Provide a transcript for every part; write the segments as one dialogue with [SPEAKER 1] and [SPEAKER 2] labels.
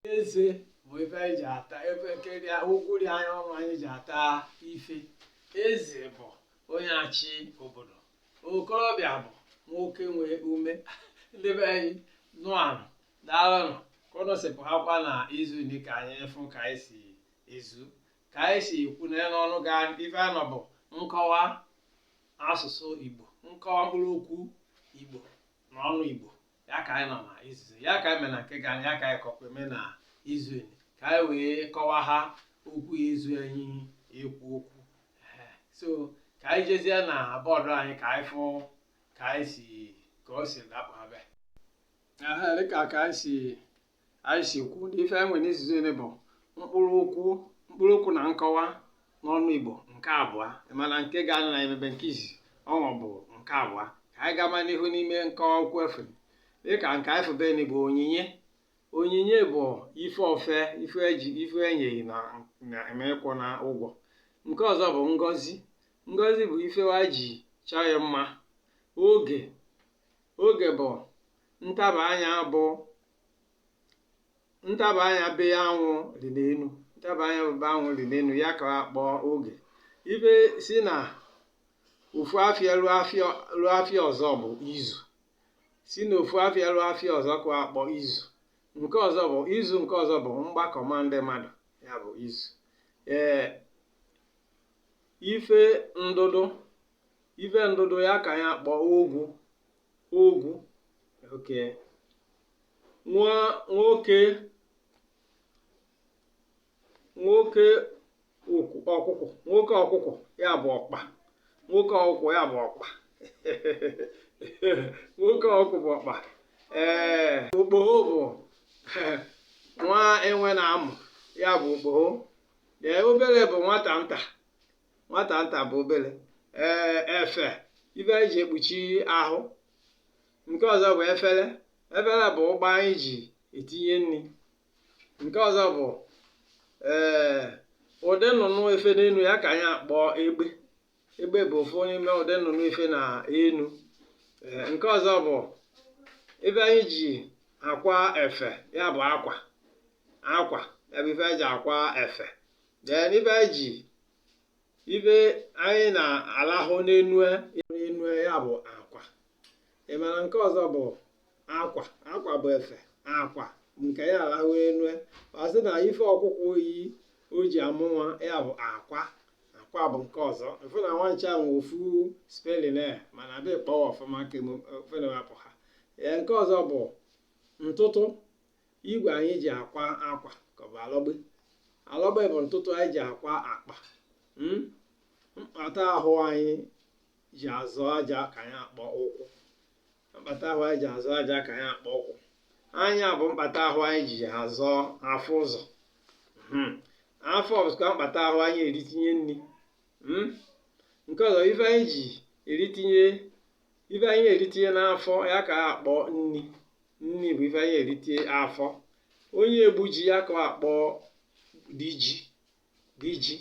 [SPEAKER 1] eze bụ ife anyị ji ata ebe nke dị ụkwụ dị anyị ọnụ anyị ji ata ife eze bụ onye achị obodo okorobịa bụ nwoke nwee ume ndị be anyị nnụanụ daalụnụ ka ụnụ si pụhakwa na izu ndị ka anyị fụ ka anyị si ezu ka anyị si ekwu na ya n'ọnụ ga ife a nọ bụ nkọwa asụsụ igbo nkọwa mkpụrụ okwu igbo na ọnụ igbo ya ka anyị nọ na izizi ya ka anyị mee na nke gani ya ka anyị kọkwa eme na izu nị ka anyị wee kọwaha okwu ya ezu anyị ekwu okwu Ee, so ka anyị jezie na bọọdụ anyị ka anyị fụ ka anyị si ka o si dakpụ abịa Aha, dịka ka anyị si anyị si kwu na ife e nwe n'izu nị bụ mkpụrụ okwu mkpụrụ okwu na nkọwa n'ọnụ igbo nke abụọ mana nke gani na emebe nke izizi ọnwa bụ nke abụọ ka anyị gama n'ihu n'ime nkọwa okwu ife dịka nke anyị febeni bụ onyinye onyinye bụ ife ofe ife eji ife e nye gị na na emekwụ na ụgwọ nke ọzọ bụ ngọzi ngọzi bụ ife wa ji chọọ ya mma oge oge bụ ntaba anya bụ ntaba anya be anwụ dị n'enu ntaba anya bụ be anwụ dị n'enu ya ka akpọ oge ife si na ofu afịa ruo afịa ọzọ bụ izu si na ofu afịa ruo afịa ọzọ ka akpọ izu nke ọzọ bụ izu nke ọzọ bụ mgbakọ ma ndị mmadụ ya bụ izu ee ife ndụdụ ife ndụdụ ya ka ya kpọọ ogwu ogwu oke nwa nwoke nwoke ọkụ- ọkụkụ nwoke ọkụkụ ya bụ ọkpa nwoke ọkụkụ ya bụ ọkpa nwoke ọkụkụ bụ ọkpa ee okpogho bụ nwa enwe nna a mụ ya bụ okpogho ee obele bụ nwata nta nwata nta bụ obele ee efe ife anyị ji ekpuchi ahụ nke ọzọ bụ efele efele bụ ụgbọ anyị ji etinye nni nke ọzọ bụ ee ụdị nnụnụ efe n'enu ya ka anyị akpọ egbe egbe bụ ofu n'ime ụdị nnụnụ efe na enu ee nke ọzọ bụ ife anyị ji akwa efe ya bụ akwa akwa ya bụ ife anyị ji akwa efe then ife anyị ji ife anyị na-alahụ n'enu n'enu ya bụ akwa ị mara nke ọzọ bụ akwa akwa bụ efe akwa nke ya alahụ enu ọ sị na ife ọkụkụ yi o ji amụ nwa ya bụ akwa akwa bụ nke ọzọ ị fụ na wa ncha nwe ofu spelling ya mana a bịa kpọ wa ọfụma ka o kewapụ ha ee nke ọzọ bụ ntụtụ igwe anyị ji akwa akwa ka ọ bụ alọgbe alọgbe bụ ntụtụ anyị ji akwa akpa hmm? mkpata ahụ anyị ji azọ ije ka anyị akpọ ụkwụ mkpata ahụ anyị ji azọ ije ka anyị akpọ ụkwụ anya bụ mkpata ahụ anyị ji azọ afụ ụzọ hmm. afọ bụkwa mkpata ahụ anyị eritinye nri hmm. nke ọzọ ife anyị ji eritinye ife anyị eritinye n'afọ ya ka a akpọ nri nri bụ ife anyị eritinye afọ onye egbu ji ya ka a akpọ di ji di ji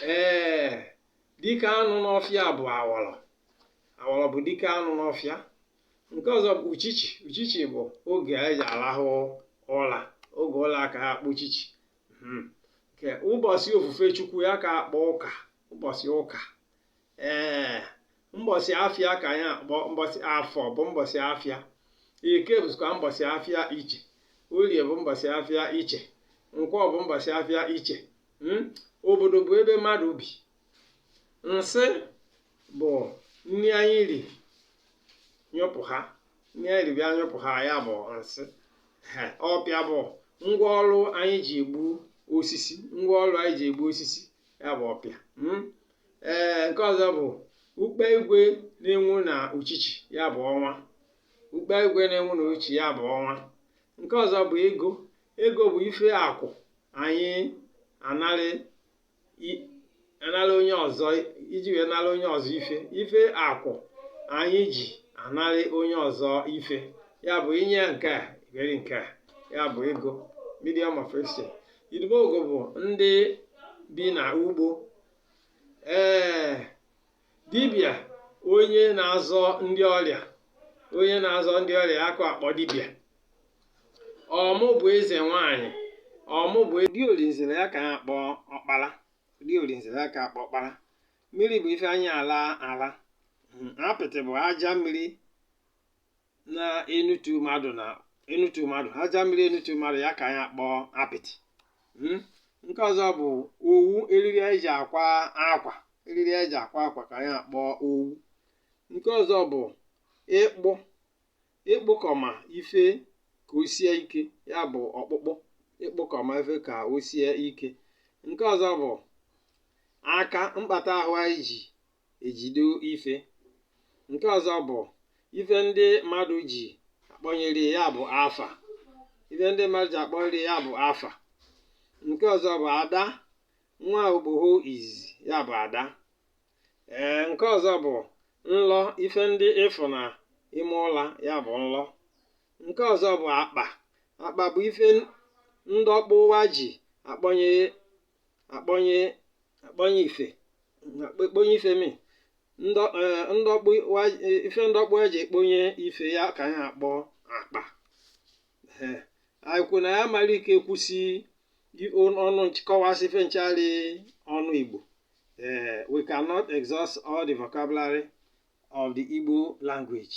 [SPEAKER 1] ee dike anụ n'ọfịa bụ awọrọ awọrọ bụ dike anụ n'ọfịa nke ọzọ bụ uchichi uchichi bụ oge anyị ji arahụ ụra oge ụra ka ha akpọ uchichi Mhm. nke ụbọsị ofufe chukwu ya ka akpọ ụka ụbọsị ụka ee mbọsị afịa ka anyị akpọ mbọsị afọ bụ mbọsị afịa eke bụzịkwa mbọsị afịa iche orie bụ mbọsị afịa iche nkwọ bụ mbọsị afịa iche hmm? obodo bụ ebe mmadụ bi nsị bụ nri anyị ri nyụpụ ha nri anyị ri bịa nyụpụ ha ya bụ nsị ọpịa bụ ngwa ọrụ anyị ji egbu osisi ngwa ọrụ anyị ji egbu osisi ya bụ ọpịa hmm? ee nke ọzọ bụ ukpe igwe na-enwu na uchichi ya bụ ọnwa ukpe igwe na-enwu na uchichi ya bụ ọnwa nke ọzọ bụ ego ego bụ ife akụ anyị anarị i- anara onye ọzọ iji wee nara onye ọzọ ife ife akụ anyị ji anarị onye ọzọ ife ya bụ inye nke a were nke a ya bụ ego medium of exchange idumuogo bụ ndị bi na ugbo ee dibịa onye na-azọ ndị ọrịa onye na-azọ ndị ọrịa ya ka akpọ dibịa ọmụ bụ eze nwanyị ọmụ bụ di olinzele ya ka ha akpọ ọkpara di olinzele ya ka akpọ ọkpara mmiri bụ ife anyị ala ala Mm, apịtị bụ aja mmiri na-enutu mmadụ na enutu mmadụ aja mmiri enutu mmadụ ya ka anyị akpọ apịtị Mm? nke ọzọ bụ owu eriri anyị ji akwa akwa eriri anyị ji akwa akwa ka anyị akpọ owu nke ọzọ bụ ịkpụ ịkpụkọma ife ka o sie ike ya bụ ọkpụkpụ ịkpụkọma ife ka o sie ike nke ọzọ bụ aka mkpata ahụ anyị ji ejido ife nke ọzọ bụ ife ndị mmadụ ji akpọnyere ya bụ afa ife ndị mmadụ ji akpọnyere ya bụ afa nke ọzọ bụ ada nwa okpoho izizi ya bụ ada ee nke ọzọ bụ nlọ ife ndị ị fụ na ime ụla ya bụ nlọ nke ọzọ bụ akpa akpa bụ ife ndị okpoho wa ji akpọnyere akpọnye akpọnye ife akpọnye ife mi ndọ- eh, ndị okpoho wa- eh, ife ndị okpoho wa ji ekponye ife ya ka anyị akpọ akpa Eh, anyị kwu na anyị amara ike kwusi i- on- ọnụ nch- kọwasị ife ncha rị ọnụ igbo Eh, we cannot exhaust all the vocabulary of the igbo language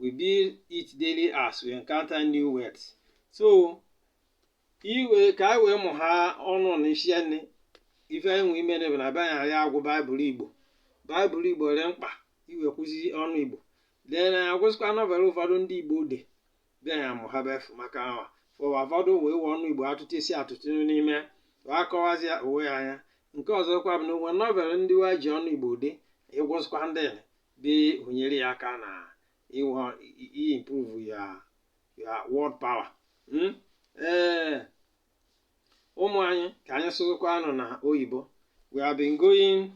[SPEAKER 1] we build it daily as we encounter new words so ka iwe ka anyị wee mụ ha ọnụ na isi nne ife anyị nwe ime na na be anyị ya agụ baịbụl igbo baịbụl igbo dị mkpa ị we kwuzi ọnụ igbo dee na agụsịkwa nọvel ụfọdụ ndị igbo de bịa ya mụ ha befu maka awa ụwa ụfọdụ wee wee ọnụ igbo atụtụ isi atụtụ n'ime wee akọwazi ya onwe ya anya nke ọzọkwa bụ na o nwe nọvel ndị wa ji ọnụ igbo de ị gụsịkwa ndị nị ọ nyere ya aka na ịwa improve ya ya word power Mm? ee ụmụ anyị ka anyị sụzụkwa anụ na oyibo we have been going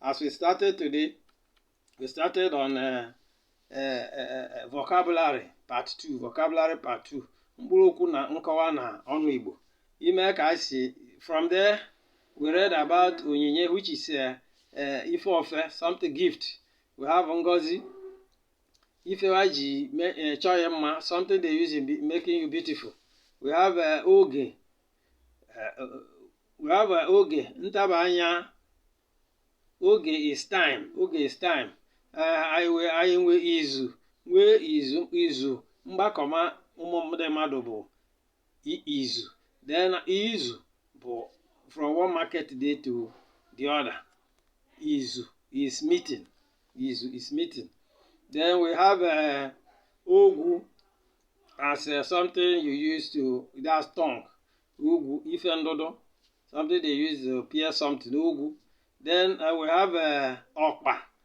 [SPEAKER 1] as we started today we started on uh, uh, uh, uh, vocabulary part 2 vocabulary part 2 mkpụrụ okwu na nkọwa na ọnụ igbo ime ka anyị si from there we read about onyinye which is uh, uh, ife ofe something gift we have ngozi ife wa ji me- eh, chọọ ya mma something they use in be- making you beautiful we have eh, oge eh, eh, we have eh, oge ntaba anya oge is time oge is time Eh, anyị wee anyị nwee izu nwee izu izu mgbakọma ụmụ ndị mmadụ bụ izu then izu bụ from one market day to the other izu is meeting izu is meeting then we have uh, ogwu as uh, something you use to that's tongue ogwu ife ndụdụ something they use to pierce something ogwu then uh, we have uh, ọkpa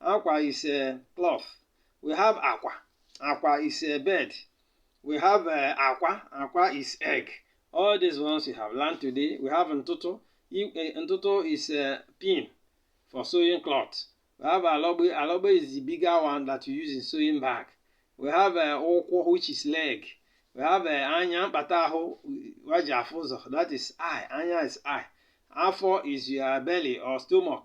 [SPEAKER 1] Akwa is a cloth. We have akwa. Akwa is a bed. We have uh, akwa. Akwa is egg. All these ones we have learned today. We have ntụtụ. Eh, ntụtụ is a eh, pin for sewing cloth. We have alogbe. Alogbe is the bigger one that you use in sewing bag. We have uh, ụkwụ, which is leg. We have uh, anya, mkpata ahụ, wa ji afụ ụzọ. That is eye. Anya is eye. Afọ is your belly or stomach.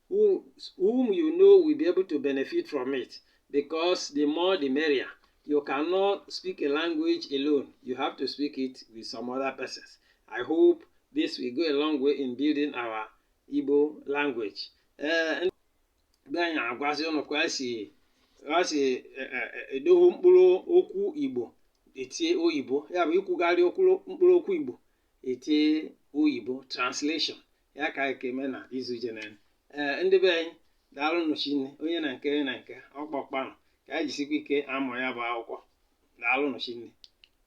[SPEAKER 1] who, whom you know will be able to benefit from it because the more the merrier. You cannot speak a language alone. You have to speak it with some other persons. I hope this will go a long way in building our Igbo language. Eh, ndị anyị agwazi ụnụ ka e si esi e, e, e, edohu mkpụrụ okwu Igbo etie oyibo ya bụ ikwugharị okwu- mkpụrụ okwu Igbo iti oyibo translation ya ka anyị ka eme na izu jenere ee eh, ndị be anyị daalụnụ shinne onye na nke na nke ọkpọkpanụ ka anyị jisikwa ike amụ ya bụ akwụkwọ daalụnụ shinne